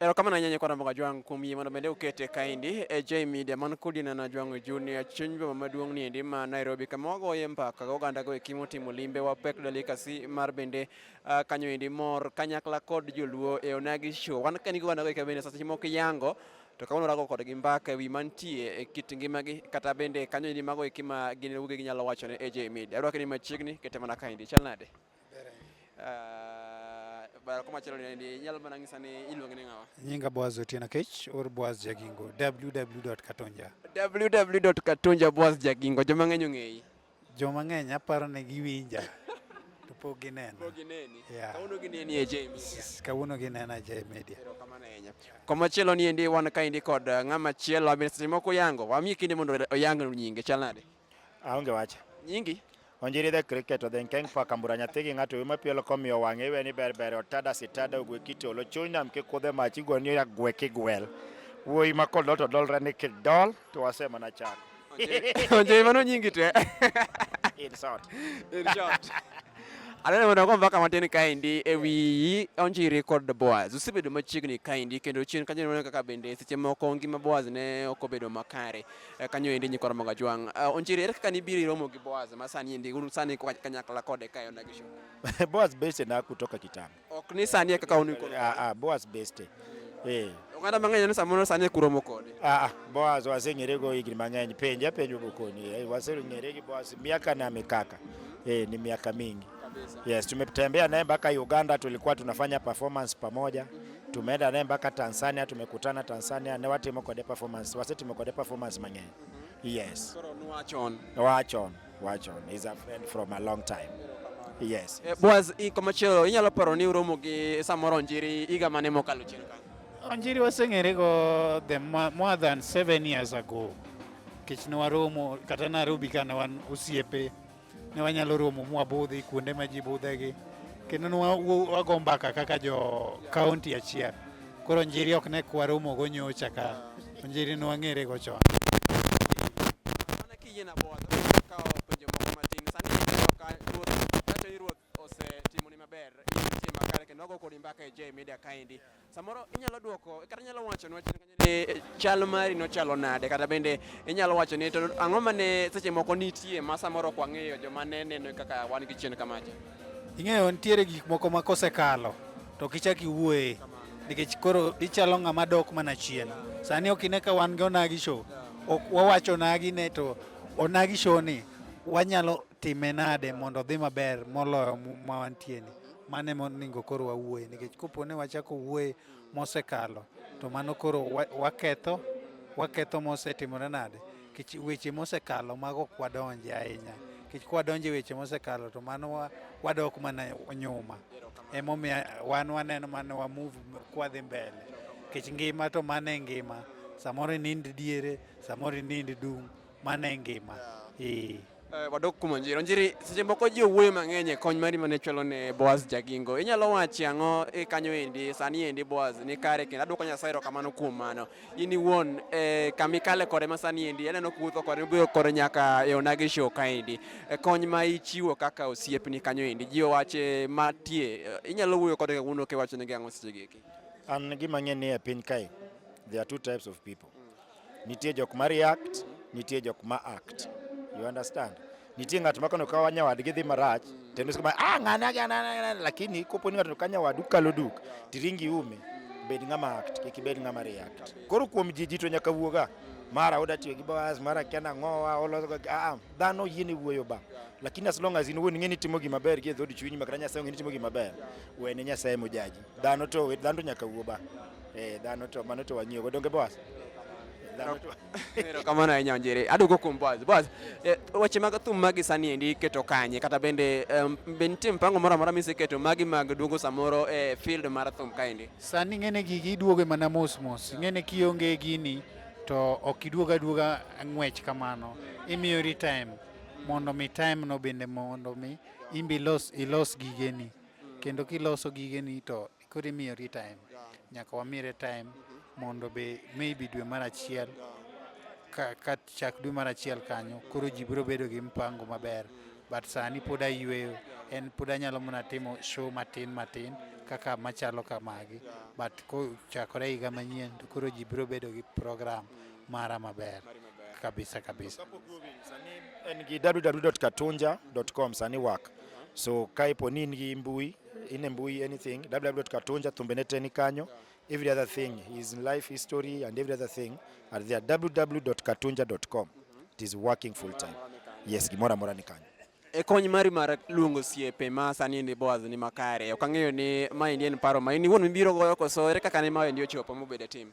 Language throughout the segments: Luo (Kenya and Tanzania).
Erokamano ahinya Nyakwa Ramboka Jwang' kuom yie mondo bende ukete kaendi e J Media man kodi nana Jwang' Junior chuny boma maduong' ni endi ma Nairobi kama wagoye mbaka gi oganda go eki motimo limbe wa pek delikasi mar bende uh, kanyo endi mor kanyakla kod joluo e onagi show wan kani gi oganda go eki bende seche moko yango to kawuono rago kodgi mbaka ewi mantie e kit ngimagi kata bende kanyo endi mago eki ma gin wuogi ginyalo wacho ne AJ Media. Arwaki ni machiegni kete mana kaendi. Chal nade? Ah, bara kuma chalo ni nyalo mana ngisa ni iluonge ni ngawa nyinga boaz otieno kech or boaz jagingo www.katonja www.katonja boaz jagingo joma ng'eny ong'eyi joma ng'eny aparo ni giwinja to pok ginena pok gineni yeah. kawuono gineni e J Media kawuono ginena e J Media koma chielo ni endi wan ka endi kod ah, ng'ama chielo abin seche moko yango wamiye kinde mondo oyang nyinge chal nade Aonge wach. Nyingi? Onjiri the cricket odhi nkeng paka mbura nyathi gi ng'ato wima pielo komiyo wang'e iwe ni ber ber otada sitada ogwe kiti olo chuny nam kikudhe mach igo ni ya gwe kigwel. Wuoyi ma kodol to dolre ni kidol to wase mana chako. Onjiri mano nyingi to eh? In short. In short. Aneno mondo go mbaka matin kaendi e wi Onjiri kod Boaz. Usebedo machiegni kaendi kendo chien kanyo neno kaka bende seche moko ngima Boaz ne ok obedo makare. eh, kanyo endi nyikwa Ramogi Ajwang'. Eh, Onjiri, ere kaka nibiro iromo gi Boaz ma sani endi un sani kwa- kanyakla kode kae ona gi show? Boaz Beste na kutoka kitambo. Ok ni sani e kaka un koro. Ah, ah, Boaz Beste. Eh. Oganda mang'eny ni samoro sani e kuromo kode. Ah, ah, Boaz waseng'ere go higni mang'eny. Penja penjo bukoni. Eh, waseng'ere gi Boaz miaka na mikaka. Eh, ni miaka mingi. Yes, tumetembea naye mpaka Uganda, tulikuwa tunafanya performance pamoja. Tumeenda naye mpaka Tanzania, tumekutana Tanzania ne watimo kode performance, wasetimo kode performance mang'eny. Yes. Wachon. Wachon. Wachon is a friend from a long time. Yes. Eh, Boaz, iko machielo inyalo paro ni uromo gi samoro Onjiri higa mane mokalo chien kanyo? Onjiri waseng'ere go the more than seven years ago. Kech ne waromo kata Nairobi ka ne wan osiepe. Ne wanyalo romo mwabudhi kuonde ma ji budhegi kendo ne wago mbaka kaka jo kaunti achiel. Koro Njiri ok ne kwaromogo nyocha ka, Njiri ne wang'erego chon. Mana kiyie na bwodho kawo penjo moko matin sani ineno ka ruoth kacho ni ruoth osetimoni maber itie makare kendo wago kodi mbaka e J Media kaendi samoro inyalo dwoko kata inyalo wachonwa chien kanyo Bende chal mari nochalo nade kata bende inyalo wacho ni to ang'o ma ne seche moko nitie ma samoro ok wang'eyo joma ne neno kaka wan gi chien kamacha Ing'eyo nitiere gik moko ma kosekalo to ok ichak iwuoye nikech koro ichalo ng'ama dok mana chien. Sani ok ine ka wan gi onagi show. Ok wawacho onagi ne to onagi show ni wanyalo time nade mondo odhi maber moloyo ma wantie ni. Mano ema onego koro wawuoye nikech kopo ni wachako wuoye mosekalo to mano koro waketho waketho mosetimore nade kech weche mosekalo mago ok wadonje ahinya kech kwadonje weche mosekalo to mano wadok mana nyuma emomiyo wan waneno mana wa move kwadhi mbele kech ngima to mano e ngima samoro inind diere samoro inind dung' mano e ngima eh. Eh, wadok kuom onjiri onjiri seche moko ji owuoyo mang'eny e kony mari mane chwalo ne boaz jagingo inyalo wachi ang'o e kanyo endi sani endi boaz ni kare kendo adwoko nyasaye erokamano kuom mano in iwuon e, kama ikale kode ma sani endi aneno kuwuotho kode iboyo kode nyaka e onagi show ka endi e, kony ma ichiwo kaka osiepni kanyo endi ji owache matie e, inyalo wuoyo kode kawuono kiwachonegi ang'o sechegi eki an gima ng'e ni e piny kae there are two types of people Nitie jok ma react, nitie jok ma act. You understand? Nitie ng'at ma kano ka wanya wadgi dhi marach, tendo kama ah ng'ana ng'ana lakini kopo ni ng'ato kanya wadu kalo duk, tiringi ume, bed ng'ama act, kik ibed ng'ama react. Koro kuom jiji to nyaka wuoga. Mara oda tiyo gi Boaz, mara kia na ngowa, olo ga ah, ah dhano yini wuoyo ba. Lakini as long as in wuon ng'eni timo gima ber gi e dhodi chunyi makana Nyasaye ng'eni timo gima ber. Wene Nyasaye mojaji. Dhano to wit dhano to nyaka wuo ba. Eh dhano to mano to wang'iyo go donge boss. Dhano to Erokamano ahinya Onjiri. Aduogo kuom Boaz. Boaz, eh, weche mag thum magi sani endi iketo kanye kata bende em, be nitie mpango moro amora miseketo magi mag duogo samoro e field mar thum kaendi? Sani ng'ene gigi iduoge mana mos mos. Ng'ene kionge gini to ok iduoga aduoga ng'wech kamano. Imiyori time mondo mi time no bende mondo mi imbi ilos ilos gigeni. kendo kiloso gigeni to koro imiyori time nyaka wamire time mondo be maybe dwe mar achiel ka, ka chak dwe mar achiel kanyo koro ji biro bedo gi mpango maber but sani pod ayueyo en pod anyalo mana timo show matin matin kaka machalo kamagi but kochakore higa manyien to koro ji biro bedo gi program mara maber kabisa kabisa. En gi www.katunja.com sani work. So kaipo ni in gi mbui, in mbui anything www.katunja thumbene te ni kanyo. Every other thing is in life history and every other thing are there www.katunja.com. It is working full time. Yes, gimora mora ni kanyo. E kony mari mar luongo siepe ma sani ni Boaz ni makare. Ok ang'eyo ni ma en paro ma in iwuon mibiro goyo koso ere kaka ne ma en ochopo mobedo e tim?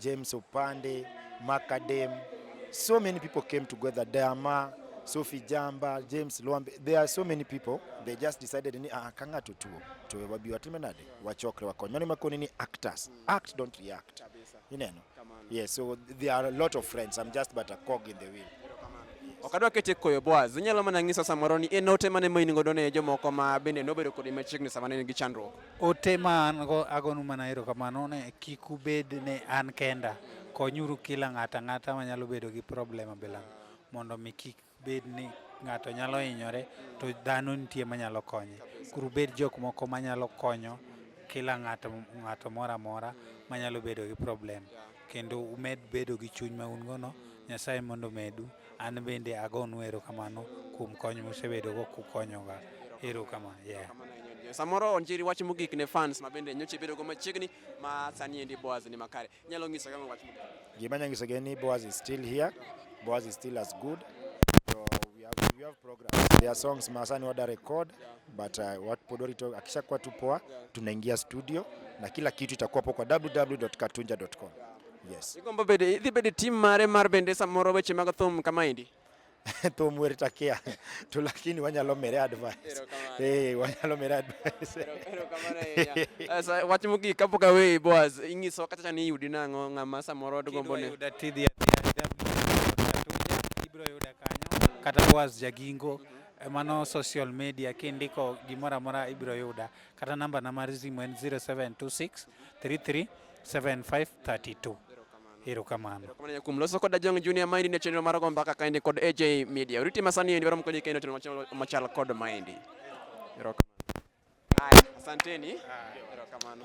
James Opande, Macadam. So many people came together. Dama, Sophie Jamba, James Luambe. There are so many people. They just decided ni ah, kanga tutuo. Tuwe wabi watime nade. Wachokre wakony. Mani makoni ni actors. Act, don't react. You know? Yeah, so there are a lot of friends. I'm just but a cog in the wheel. okadwa kete koyo boaz inyalo mana ng'iso samoro ni en ote mane ma in godo ne jomoko ma bende nobedo kodi machiegni sama ne in gi chandruok Ote ma an go agonu mana erokamano ni kik ubed ni an kenda. Konyuru kila ng'ato ang'ata manyalo bedo gi problem abilano mondo mi kik bed ni ng'ato nyalo hinyore to dhano nitie manyalo konye. Koro ubed jok moko manyalo konyo kila ng'ato ng'ato moro amora manyalo bedo gi problem kendo umed bedo gi chuny ma un gono. Nyasaye mondo omedu. An bende agonu erokamano kuom kony musebedogo kukonyoga. Erokamano. Yeah. Samoro onjiri wach mogik ne fans ma bende nyocha ibedogo machiegni ma sani endi Boaz ni makare. Inyalo nyiso gang'o wach mogik? Gima anyalo nyisogi en ni Boaz is still here. Boaz is still as good. So we have, we have programs. There are songs ma sani wada record but uh, what pod warito akishakuwa tu poa tunaingia studio na kila kitu itakuwa hapo kwa www.katunja.com. Yes. Igombo bede idhi bede tim mare mar bende samoro weche mag thum kama indi. thum wer takia to lakini wanyalo mere advice eh wanyalo mere advice sasa eh, watu mugi kapo ka wewe boaz ingiso kata chani yudi nango ngama samoro dugombo ne yuda tidhi ya ibro yuda kanyo kata boaz jagingo mm -hmm. Eh, mano social media kindiko gimora mora ibro yuda kata namba na mar simu en 0726 33 7532 erokamano erokamano kuom loso koda jong junior maendi ne chenro mar go mbaka kaendi kod aj media oriti masani endi waro mkonyi kaendi otimo chenro machal kod maendi erokamano haya asanteni erokamano